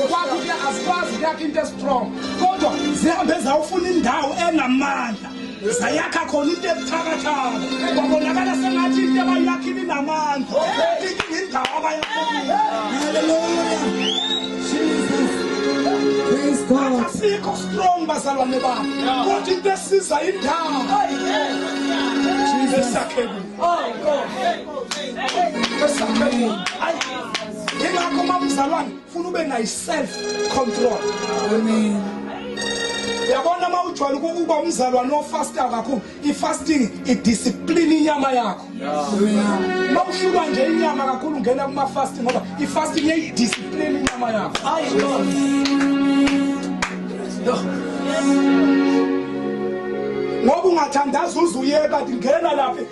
kwakho kuya asikwazi kuyakha into estrong kodwa zihambe zawufuna indawo enamandla zayakha khona into ebuthakathaka babonakala sengathi into abayakhile inamandla inkinga indawo abayakhile asikho strong bazalwane bami kodwa into esiza indawo esakhe kuyo esakhe kuyo yingakho uma umzalwane funa ube nayo self control amen yabona uma ujwayele ukuba umzalwane ofastayo kakhulu i-fasting idiscipline inyama yakho uma uhlulwa nje inyama kakhulu ungena kuma-fasting ngoba i-fasting iyayidiscipline inyama yakho ayi ngoba ungathandaza uze uye kanti ngena laphi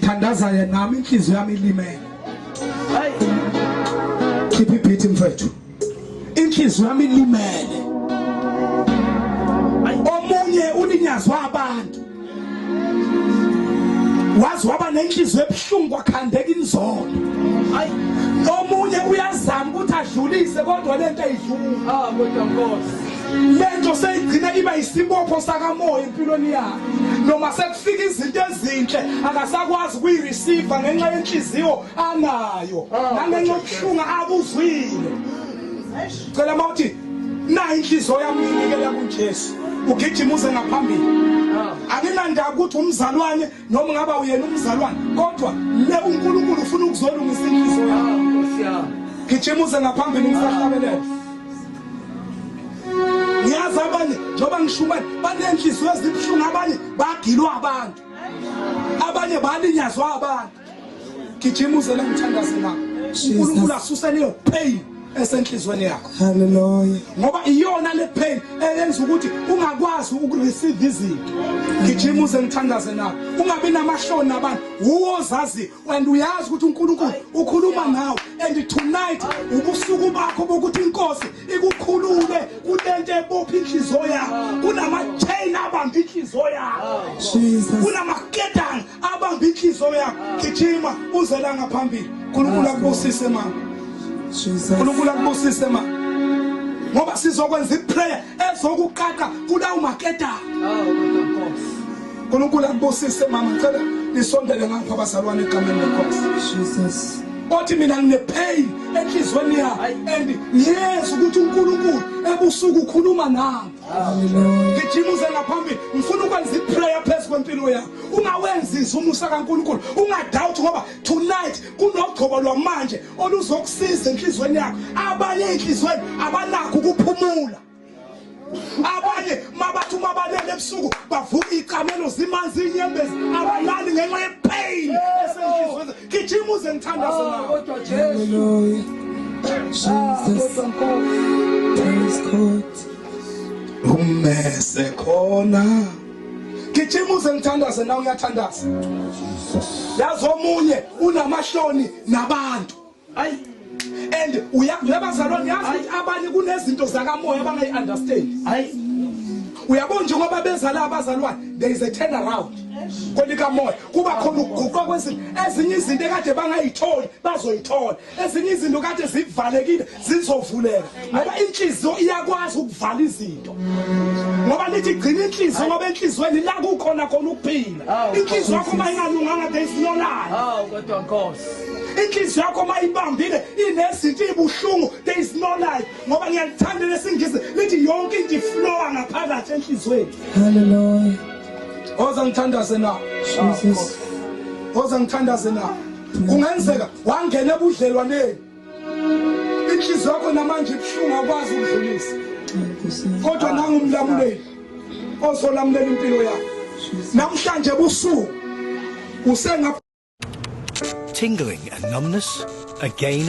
thandaza ye nami inhliziyo yami ilimele khipha ibhithi mfethu inhliziyo yami ilimele omunye ulinyazwa abantu wazi waba nenhliziyo ebuhlungu kwakhandeka inzondo hayi omunye uyazama ukuthi adlulise kodwa lento ayidlula ah kodwa nkosi lento seyigcina iba isibopho sakamoya empilweni yakhe noma fika izinto ezinhle akasakwazi ukuyireceive ngenxa yenhliziyo anayo ah, nangenxa yokuhlunga akuzwile cela uma uthi nayo inhliziyo yami nginikela kujesu ugijima uze ngaphambili ah. anginandaba ukuthi umzalwane noma ngaba uyena umzalwane kodwa le unkulunkulu ufuna ukuzolungisa inhliziyo yami ah, gijima uze ngaphambili ngisahlabelela ngiyazi abanye njengoba ngisho ubani banenhliziyo ezibuhlungu abanye bagilwa abantu abanye balinyazwa abantu gijima uze la ngithandaze nabo unkulunkulu asuse leyo pain esenhlizweni yakho haleluya ngoba iyona le pain eyenza ukuthi ungakwazi ukureceive izinto ngijima uze ngithandaze nabo ungabi namahloni nabantu uwozazi and uyazi ukuthi uNkulunkulu ukhuluma nawe and tonight ubusuku bakho bokuthi inkosi ikukhulule kulento ebopha inhliziyo yakho kunama chain abamba inhliziyo yakho Jesus kunama ketang abamba inhliziyo yakho gijima uzela ngaphambili uNkulunkulu akubusise mama Jesus uNkulunkulu akubusise mama ngoba sizokwenza iprayer ezokuqaqa kulawo maketang oh, unkulunkulu akubusise mama ngicela nisondele ngapha abazalwane egameni lenkosi jesus othi mina nginepain enhlizweni yakhe and ngiyeza ukuthi uNkulunkulu ebusuku ukhuluma nami ngijimuze ngaphambili ngifuna ukwenza iprayer phezu kwempilo yakho ungawenzisi umusa kaNkulunkulu ungadoubt ngoba tonight kunogcobo lwamanje oluzokusiza enhlizweni yakho abanye inhlizweni abanakho ukuphumula abanye mabathi uma balele ebusuku bavuka iy'camelo zimanzi iy'nyembezi abalali ngenxa yepain esenhlizweni gijima uze ngithandaze nawe kodwa jesu Jesus, praise God. Umese khona. Gijima uze ngithandaze nawe uyathandaza. Yazi omunye unamahloni nabantu. Ay and uyazi uyabazalwane yazi abanye kunezinto zakamoya abangayi understand. Ay uyabona nje ngoba bezala abazalwane there is a turn around kolika moya kuba khona ukuguqa kwezinto ezinye izinto ekade bangayitholi bazoyithola ezinye izinto kade zivalekile zizovuleka ngoba inhliziyo iyakwazi ukuvala izinto ngoba lithi gcina inhliziyo ngoba enhliziyweni la kukhona khona ukuphila inhliziyo yakho uma ingalunganga there is no life hawu kodwa nkosi inhliziyo yakho uma ibambile inezinto ibuhlungu there is no life ngoba ngiyalithanda lesingisi lithi yonke into iflowa ngaphakathi enhliziyweni haleluya oza ngithandaze na jesus oza ngithandaze na kungenzeka wangena ebudlelwaneni inhliziyo yakho namanje ibuhlungu akwazi ukudlulisa kodwa nangumlamuleli ozolamulela impilo yakho namhlanje busuku usenga tingling and numbness again